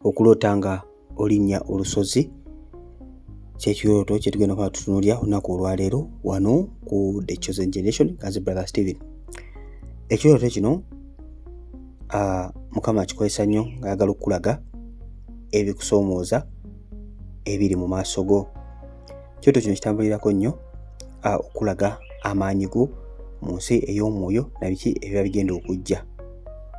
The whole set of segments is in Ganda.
okuloota nga olinnya olusozi kyekirooto kyetugenda kuba tutunulya olunaku olwaleero wano ku the chosen generation as brother stephen ekirooto kino uh, mukama akikozesa nnyo ngaayagala okukulaga ebikusoomooza ebiri mu maaso go kyoto kino kitambulirako nnyo okulaga amaanyi go mu nsi ey'omwoyo na biki ebiba bigenda okujja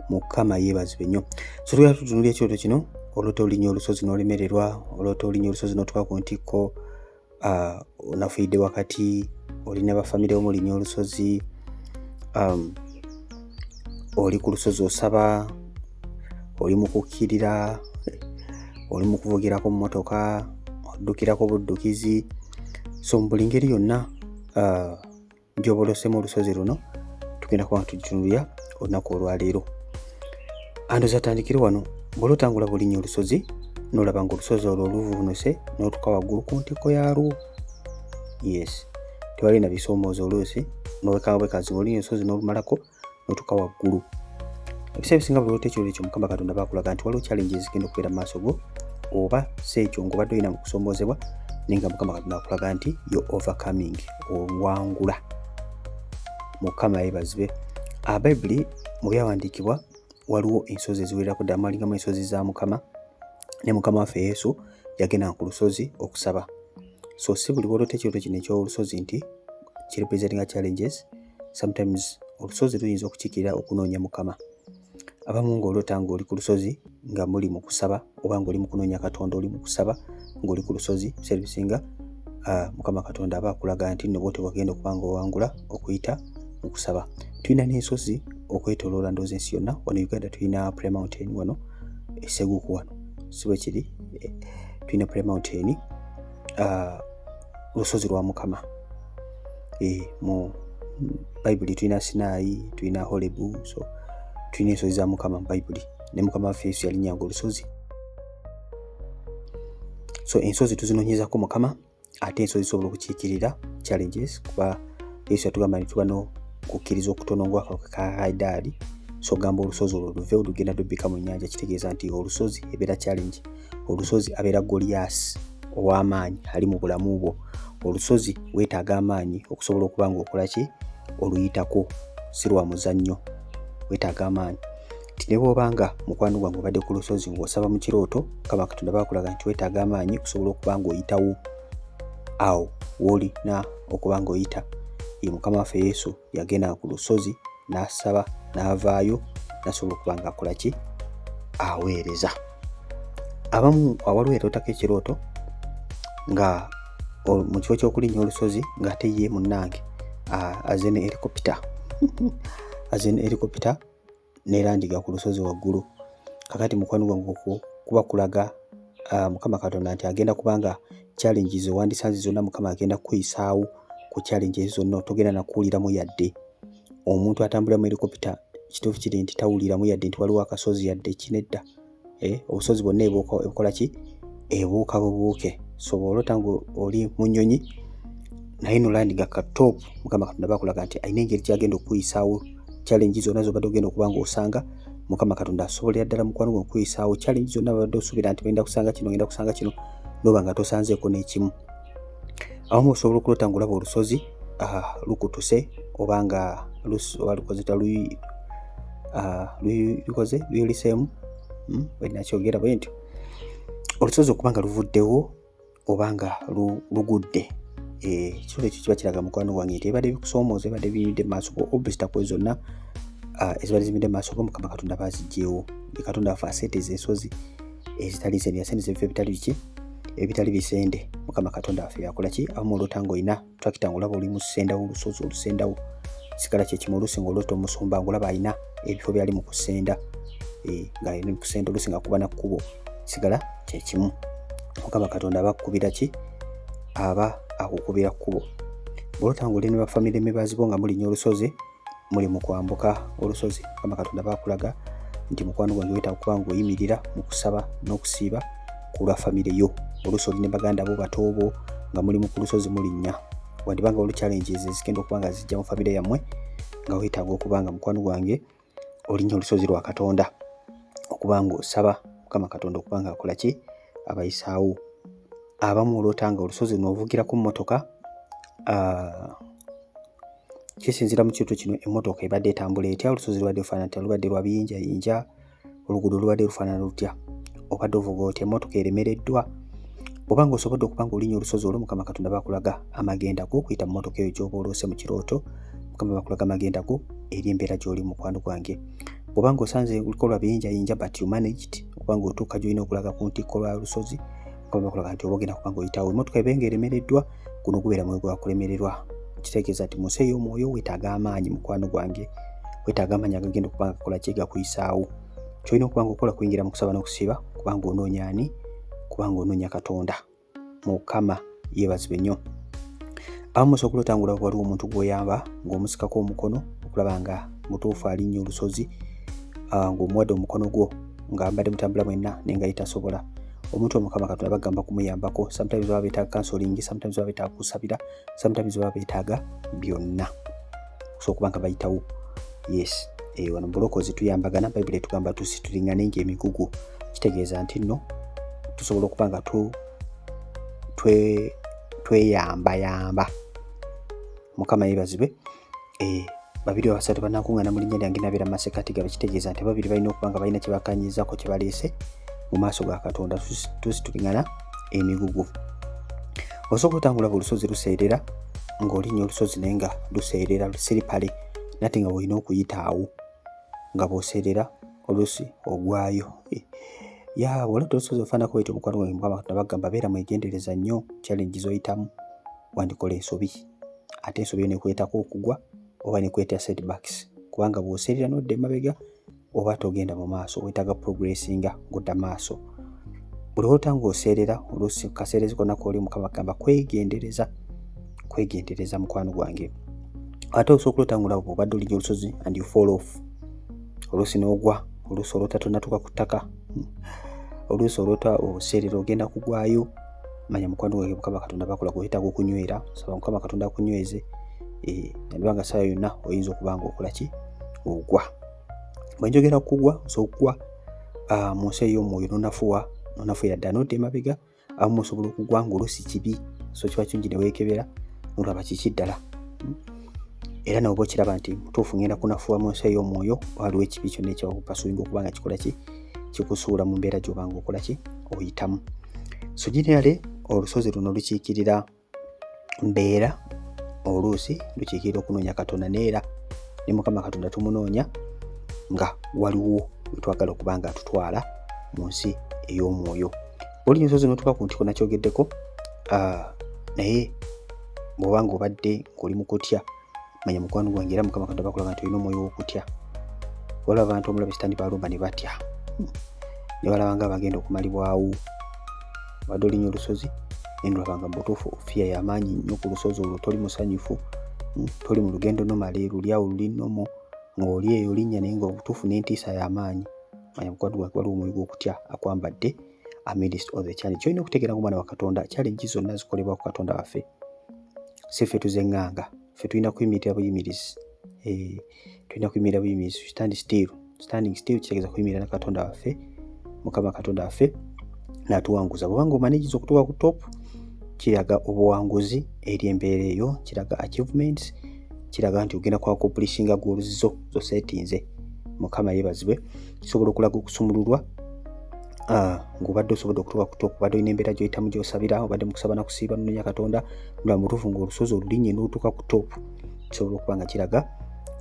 mukama yeebazibwe nnyo so tugenda tutunula ekyoto kino olota olinya olusozi n'olemererwa olota olinya olusozi n'otuka ku ntikko onafuidde wakati olina bafamire omulinya olusozi um, oli ku lusozi osaba oli mu kukkirira oli mu kuvugirako mmotoka oddukirako buddukizi so mu buli ngeri yonna uh, gyobolosemu olusozi luno tugenda kuba tutunulira olunaku olwaleero ando zatandikire wano bwola otangula bulinya olusozi nolaba nga olusozi olwo oluvunuse notuka waggulu ku ntikko yalwo yes tewali na bisoomooza oluusi nowekanga bwekazi oli ensozi n'olumalako notuka waggulu ebiseera ebisinga buli ekyo ekyo mukama katonda bakulaga nti waliwo challenge ezigenda okubeera mu maaso go oba si ekyo ngaobadde olina mukusoomoozebwa naye nga mukama katonda akulaga nti yo overcoming owangula mukama yebazibe abayibuli ah, mu byawandiikibwa waliwo ensozi eziwererako ddala mwalingamu ensozi za mukama ne mukama waffe yesu yagendanga ku lusozi okusaba so si buli bwolota ekirooto kino ekyolusozi nti kirepresentinga challenges sometimes olusozi luyinza okukikirira okunoonya mukama abamu ngaolota ngaoli ku lusozi nga muli mu kusaba oba ngaoli mu kunoonya katonda oli mu kusaba ngaoli ku lusozi servisinga uh, mukama katonda aba akulaga nti nno bwote bwagenda okuba nga owangula okuyita mu kusaba tulina n'ensozi okwetoloola ndoozi ensi yonna wano uganda tulina premountain wano eseguku wano siwe kiri eh, tulina pre mountain ah, lusozi lwa mukama eh, mu bayibuli tulina sinaayi tulina holebu so tulina ensozi za mukama mu bayibuli ne mukama waffe yesu yalinyanga olusozi so ensozi tuzinonyezako mukama ate ensozi zisobola okukiikirira challenges kuba yesu yatugamba nti tuba nokukkiriza okutono ngaakawuka ka haidaali so gamba olusozi olwo luve olugenda lubbika mu nyanja kitegeeza nti olusozi ebeera challenge olusozi abeera goliyaasi ow'amaanyi ali mu bulamu bwo olusozi weetaaga amaanyi okusobola okuba ngaokola ki oluyitako si lwa muzannyo weetaaga amaanyi nti ne bwoba nga mukwano gwange obadde ku lusozi ng'osaba mu kirooto kaba katonda bakulaga nti wetaaga amaanyi okusobola okuba ng'oyitawo awo woolina okuba ng'oyita ye mukama waffe yesu yagenda ku lusozi n'asaba n'avaayo nasobola okuba ng'akola ki aweereza abamu awaliwo yatootako ekirooto nga mu kifo ky'okulinnya olusozi ng'ate ye munnange aze ne erikopita aze ne erikopita nerandiga ku lusozi waggulu kakati mukwano gwange okwo kuba kulaga uh, mukama katonda nti agenda kubanga challenges owandisanze zonna mukama agenda kukuyisaawo ku challenges zonna otogenda nakuwuliramu yadde omuntu atambulira mu helikopita kituufu kiri nti tawuliramu yadde nti waliwo akasozi yadde kinedda eh, obusozi bwonna ebukola ki ebuuka bubuuke so bwolota nga oli mu nyonyi naye nolandiga ka top mukama katonda bakulaga nti alina engeri gyagenda okukuyisaawo challenge zonna zobadde ogenda okuba nga osanga mukama katonda asobolera ddala mukwano gwe okukuyisaawo challenge zonna babadde osuubira nti ogenda kusanga kino ogenda kusanga kino noba nga tosanzeeko n'ekimu awamu osobola okuloota nga olaba olusozi ah, lukutuse oba nga lukozeta ah, lukoze luyuliseemu hmm, wenakyogera bwe ntyo olusozi okuba nga luvuddewo oba nga lugudde eh, ekisolo ekyo kiba kiraga mukwano wange nti ebadde bikusoomooza ebadde biyidde mu maaso go obisita kwe zonna Ah, eziba zimidde maaso go mukama katonda bazijjewo katonda afe aseeta ezo ensozi ezitali ze byasente zebifa ebitali biki ebitali bisende mukama katonda waffe yakola ki amu olota nga olina twakita nga olaba oli musendawo olusozi olusendawo sigala kyekimu olusi nga olota omusumba nga olaba alina ebifo byali mu kusenda e, nga alina mukusenda olusi nga kuba nakkubo sigala kyekimu mukama katonda aba akukubira ki aba akukubira kkubo bwolota nga oli ne bafamire mibazibwo nga mulinya olusozi muli mu kwambuka olusozi kama katonda bakulaga nti mukwano gwange weta okuba ngaoyimirira mu kusaba n'okusiiba ku lwa famire yo oluusi oli ne baganda bo batoobo nga mulimu ku lusozi mulinnya wandiba nga oluchallenges ezigenda okuba nga zijja mu famire yammwe nga wetaaga okuba nga mukwano gwange olinnya olusozi lwa katonda okuba ngaosaba mukama katonda okuba nga akola ki abayisaawo abamu olwota nga olusozi noovugirako mmotoka ah, kisinzira mu kitu kino emmotoka ebadde etambula etya olusozi lubadde lufaanana tya lubadde lwa biyinjayinja oluguudo lubadde lufaanana lutya obadde ovuga otya emmotoka eremereddwa oba nga osobodde okuba nga olinya olusozi olwo mukama katonda bakulaga amagenda go okuyita mu mmotoka eyo gyoba oloose mu kirooto mukama bakulaga amagenda go eri embeera gy'oli mukwano gwange oba nga osanze luliko lwa biyinjayinja but you managed okuba nga otuuka gyolina okulaga ku ntikko lwa lusozi mukama bakulaga nti obagenda kuba nga oyitawo emmotoka ebenga eremereddwa guno gubeera mwoyo gwa kulemererwa kitegeeza nti mu nsi ey'omwoyo weetaaga amaanyi mukwano gwange weetaaga amaanyi agagenda okuba nga kola kyegakuyisaawo kyolina okuba nga okola kuyingira mu kusaba n'okusiba kubanga onoonya ani kubanga onoonya katonda mukama yeebazibwe nnyo abamu osobola okuloota nga olaba waliwo omuntu gw'oyamba ng'omusikako omukono okulaba nga mutuufu alinnya olusozi ah, ng'omuwadde omukono gwo nga mbadde mutambula mwenna naye nga yitasobola omuntu omukama katonda bagamba kumuyambako sometimes baba betaaga kansolingi sometimes baba betaaga kusabira sometimes baba betaaga byonna so okuba nga bayitawo yes eh, wano mubulokozi tuyambagana bayibuli etugamba tusi tulingane nga emigugu kitegeeza nti nno tusobola okuba nga tweyambayamba mukama yebazibwe twe eh, babiri abasatu banakuŋŋana mu linnya lyange nabeera masekati gabe kitegeeza nti ababiri balina okuba nga balina kyebakanyirizako kye baleese mu maaso ga katonda tusituliŋana emigugu osooka otambula buli lusozi luseerera ng'olinya olusozi naye nga luseerera siripale nate nga olina okuyita awo nga bwoseerera olusi ogwayo eh, ya wali tolusozi ofaanako wetyo omukwano gwange mukama katonda bagamba beera mwegendereza nnyo challenge zoyitamu wandikola ensobi ate ensobi ne kwetako okugwa oba ne kweta setbacks kubanga bw'oserera n'odda emabega oba togenda mu maaso weetaaga progressinga ng'odda maaso buli olota ng'oseerera oluusi kaseerezi konna kwoli mukama kugamba kwegendereza kwegendereza mukwano gwange ate osobola okulota ng'olaba bw'obadde olijja olusozi and you fall off oluusi n'ogwa oluusi olota tonatuuka ku ttaka oluusi olota obuseerera ogenda kugwayo manya mukwano gwange mukama katonda bakola kuhita kukunywera saba mukama katonda akunyweze nabanga eh, sawa yonna oyinza okuba nga okola ki ogwa bwenjogera kugwa osobola okugwa ah, mu nsi ey'omwoyo nonafuwa nonafuira ddala nodda emabega abamu osobola okugwa nga olusi kibi so kiba kirungi neweekebera nolaba kiki ddala hmm? era nawe okiraba nti mutuufu ngenda kunafuwa mu nsi ey'omwoyo waliwo ekibi kyonna ekyakupasuinga okuba nga kikola ki kikusuula mu mbeera gy'obanga okola ki oyitamu so generally olusozi luno lukiikirira mbeera oluusi lukiikirira okunoonya katonda neera ne mukama katonda tumunoonya nga waliwo wetwagala okuba nga atutwala mu nsi ey'omwoyo oli nsozi notuka ku ntiko nakyogeddeko ah, naye bwobanga obadde ngoli mukutya manya mukwano gwange era mukama katonda bakulaga nti olina omwoyo wokutya waliwo abantu omulabe sitani balumba ne batya hmm. ne balaba nga abagenda okumalibwawo badde olinya olusozi naye nolabanga mubutuufu ofiya yamaanyi nnyo ku lusozi olwo toli musanyufu hmm. toli mu lugendo nomale lulyawo luli nomo ng'oli eyo linnya naye nga obutuufu n'entiisa yamaanyi manya mukwano gwange waliwo omwoyo gwokutya akwambadde amidst all the challenge kyolina okutegeera nga omwana wa katonda challenge zonna zikolebwa ku katonda waffe si ffe tuzenganga ffe tulina kuyimirira buyimirizi eh, tulina kuyimirira buyimirizi stand still standing still kitegeeza kuyimirira na katonda waffe mukama katonda waffe natuwanguza bwobanga omanigiza okutuuka ku top kiraga obuwanguzi eri embeera eyo kiraga achievements kiraga nti ogenda kwa kopulishinga goolu zo zosetinze mukama yebazibwe kisobola okulaga okusumululwa ah, ngaobadde osobodde okutuka kuto kubadde olina embeera gyoyitamu gyosabira obadde mukusaba nakusiiba nononya katonda nga mutuufu ngaolusozi olulinye notuka ku top kisobola okuba nga kiraga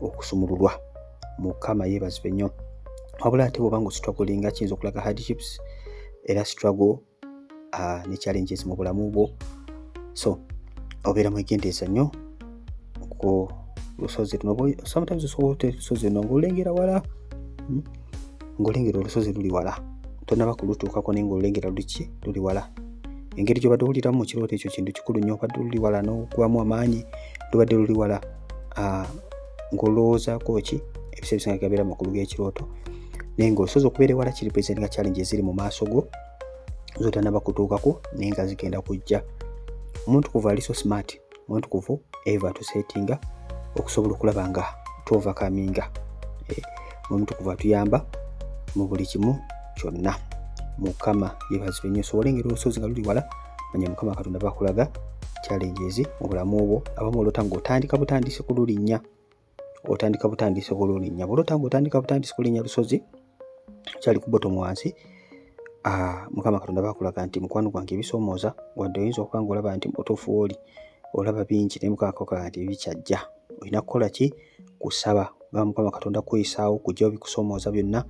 okusumululwa mukama yebazibwe nnyo wabula ate bwoba nga ositwagolinga kiyinza okulaga hardships era struggle uh, ne challenges mu bulamu bwo so obeera mwegendereza nnyo ku lusozi luno sometimes osobola ote lusozi luno ngaolengera wala hmm? ngaolengera olusozi luli wala tonaba kulutuukako naye ngaolengera luki luli wala engeri gyobadde owuliramu mu kirooto ekyo kintu kikulu nnyo obadde luli wala n'okubamu amaanyi lubadde luli wala ah, ng'olowoozako ki ebiseera bisinga gabeera makulu g'ekirooto naye ngaosobola okubeera ewala kiri presentinga challenge eziri mu maaso go zotanaba kutuukako naye nga zigenda kujja omuntu kuva ali so smart omuntu kuva eva tusetinga okusobola okulaba nga tuova kaminga eh, omuntu kuva tuyamba mu buli kimu kyonna mukama yebazibwe nyo osobole engeri olusozi nga luli wala manya mukama katonda bakulaga challenges mu bulamu obwo abamu olota ngaotandika butandisi kululinnya otandika butandisi sobola olinya bwola otanga otandika butandisi kulinya lusozi kyali kubotom wansi ah, mukama katonda bakulaga nti mukwano gwange ebisomooza wadde oyinza okuba nga olaba nti mutuufu wooli olaba bingi naye mukama kakola nti bikyajja olina kukola ki kusaba ba mukama katonda kuyisaawo kujja obikusomooza byonna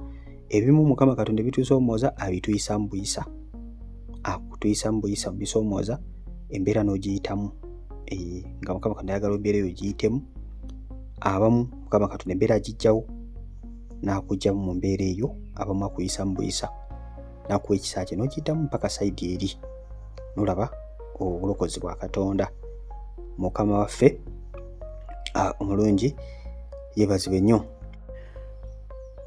ebimu mukama katonda ebitusoomooza abituyisa mu buyisa akutuyisa mu buyisa mubisoomooza embeera n'ogiyitamu eh, nga mukama katonda ayagala embeera eyo giyitemu abamu mukama katonda embeera agijjawo n'akugyamu mu mbeera eyo abamu akuyisa mu buyisa nakuwa ekisa kye nokiyitamu mpaka saidi eri nolaba obulokozi bwa katonda mukama waffe omulungi yebazibwe nnyo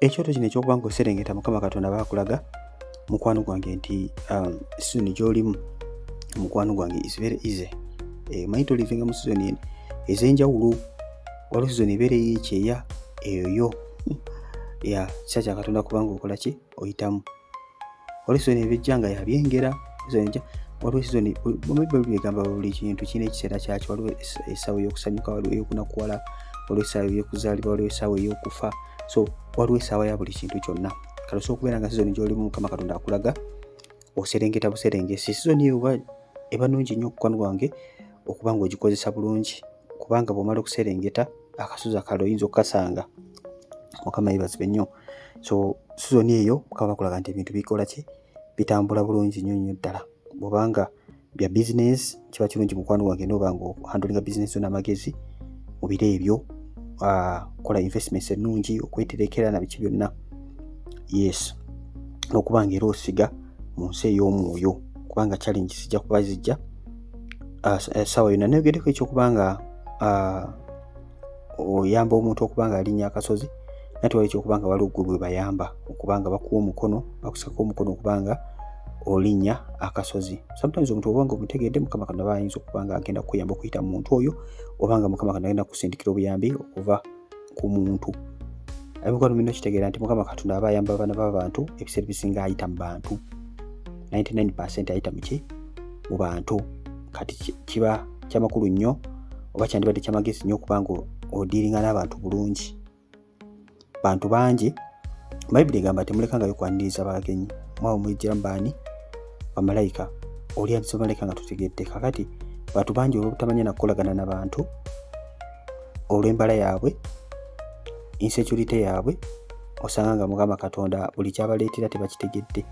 ekyoto kino ekyokuba nga oserengeta mukama katonda bakulaga mukwano gwange nti um, sizoni gyolimu mukwano gwange is very easy eh, manyi tolivinga mu sizoni en ezenjawulo waliwo sizoni ebeera eyekyeya eyoyo ya kisa kyakatonda kubanga okola ki oyitamu olisoni ebijja nga yabyengera waliwo sizoni bayibuli egamba buli kintu kirina ekiseera kyakyo waliwo essaawa eyokusanyuka waliwo eyokunakuwala waliwo essaawa eyokuzaalibwa waliwo essaawa eyokufa so waliwo essaawa ya buli kintu kyonna kati osobola okubeera nga sizoni gyolimu mukama katonda akulaga oserengeta buserengesi sizoni eyo eba nungi nnyo okukwano gwange okuba nga ogikozesa bulungi kubanga bwomala okuserengeta akasozi akalala oyinza okukasanga mukama yebazibwe nnyo so sizoni eyo mukama bakulaga nti ebintu bikola ki bitambula bulungi nnyo nnyo ddala bwobanga bya bizinesi kiba kirungi mukwano gwange noba nga ohandolinga bizinesi yo n'amagezi mu biro ebyo ah, kola investments ennungi okweterekera na biki byonna yes n'okuba nga era osiga mu nsi ey'omwoyo kubanga challenge zijja kuba zijja esawa yona neyogeddeko ekyokuba nga oyamba omuntu okuba nga alinya akasozi nate wali ekyokuba nga waliwo gwe bwebayamba okuba nga bakuwa omukono bakusako omukono okuba nga olinya akasozi sometimes omuntu obanga omutegedde mukama katonda bayinza okuba nga agenda kukuyamba okuyita mu muntu oyo obanga mukama katonda agenda kusindikira obuyambi okuva ku muntu abikwano bino kitegeera nti mukama katonda aba ayamba abaana babantu ebiseera bisinga ayita mu bantu 99 ayita muki mu bantu kati kiba kyamakulu nnyo oba kyandibadde kyamagezi nnyo okubanga odiiringa n'abantu bulungi bantu bangi bayibuli egamba temulekangayo kwaniriza bagenyi mwabo muyijjira mubaani bamalayika olyandisomaleka nga tutegedde kakati bantu bangi olwobutamanya nakukolagana nabantu olw'embala yaabwe insecurity yaabwe osanga nga mukama katonda buli kyabaleetera tebakitegedde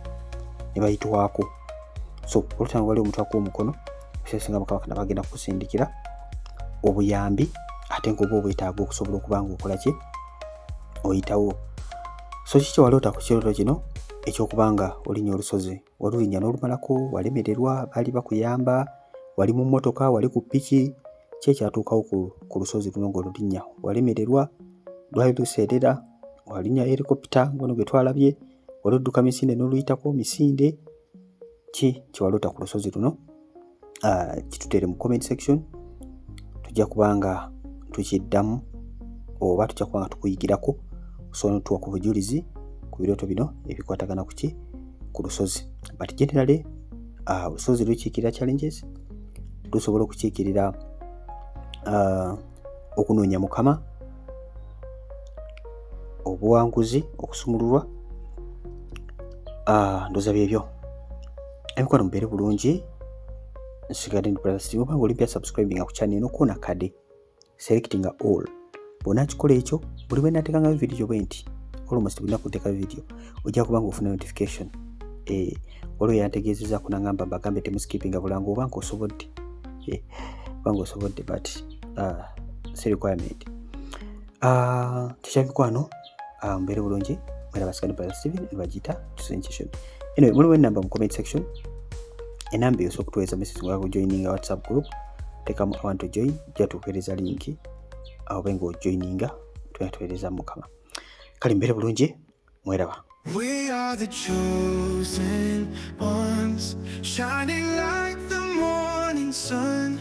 ne bayitwako so olutanga wali omutwako omukono ekisesinga mukama katonda bagenda kukusindikira obuyambi ate ngaoba obwetaaga okusobola okuba nga okola ki oyitawo so kiki waloota ku kirooto kino ekyokubanga olinya olusozi walulinya n'olumalako walemererwa baali bakuyamba wali mu mmotoka wali ku piki ki ekyatuukawo ku lusozi luno ng'olulinnya walemererwa lwali luseerera walinya helikopita ngono gwe twalabye wali odduka misinde n'oluyitako misinde ki kyewalota ku lusozi luno uh, kitutere mu comment section tujja kubanga tukiddamu oba tujja kubanga tukuyigirako osobola notuwa ku bujulizi ku birooto bino ebikwatagana ku ki ku lusozi but generally uh, lusozi lukiikirira challenges lusobola okukiikirira uh, okunoonya mukama obuwanguzi okusumululwa uh, ndoza byebyo ebikola mubeere bulungi nsigadde ndi brother steve obanga olimpya subscribinga ku channel eno koona kade selectinga all bwona akikola ekyo buli bwe natekangayo vidiyo bwe nti almost bulina kuteeka vidiyo ojja kuba nga ofuna notification eh, waliwo yantegeezeza kunangamba bagambe temuskipinga bulango oba nga osobodde eh, oba nga osobodde but uh, si requirement uh, ah, kyekyamikwano ah, mbeere bulungi mwera basikani brother steven nebagiyita tusinkisho anyway muliwo enamba mu comment section enamba eyosa okutuweeza message nga kujoininga whatsapp group tekamu abantu join jatuweereza linki aobe nga ojoininga tuyatuweereza mukama kale mbeere bulungi mweraba We are the chosen ones, shining like the morning sun.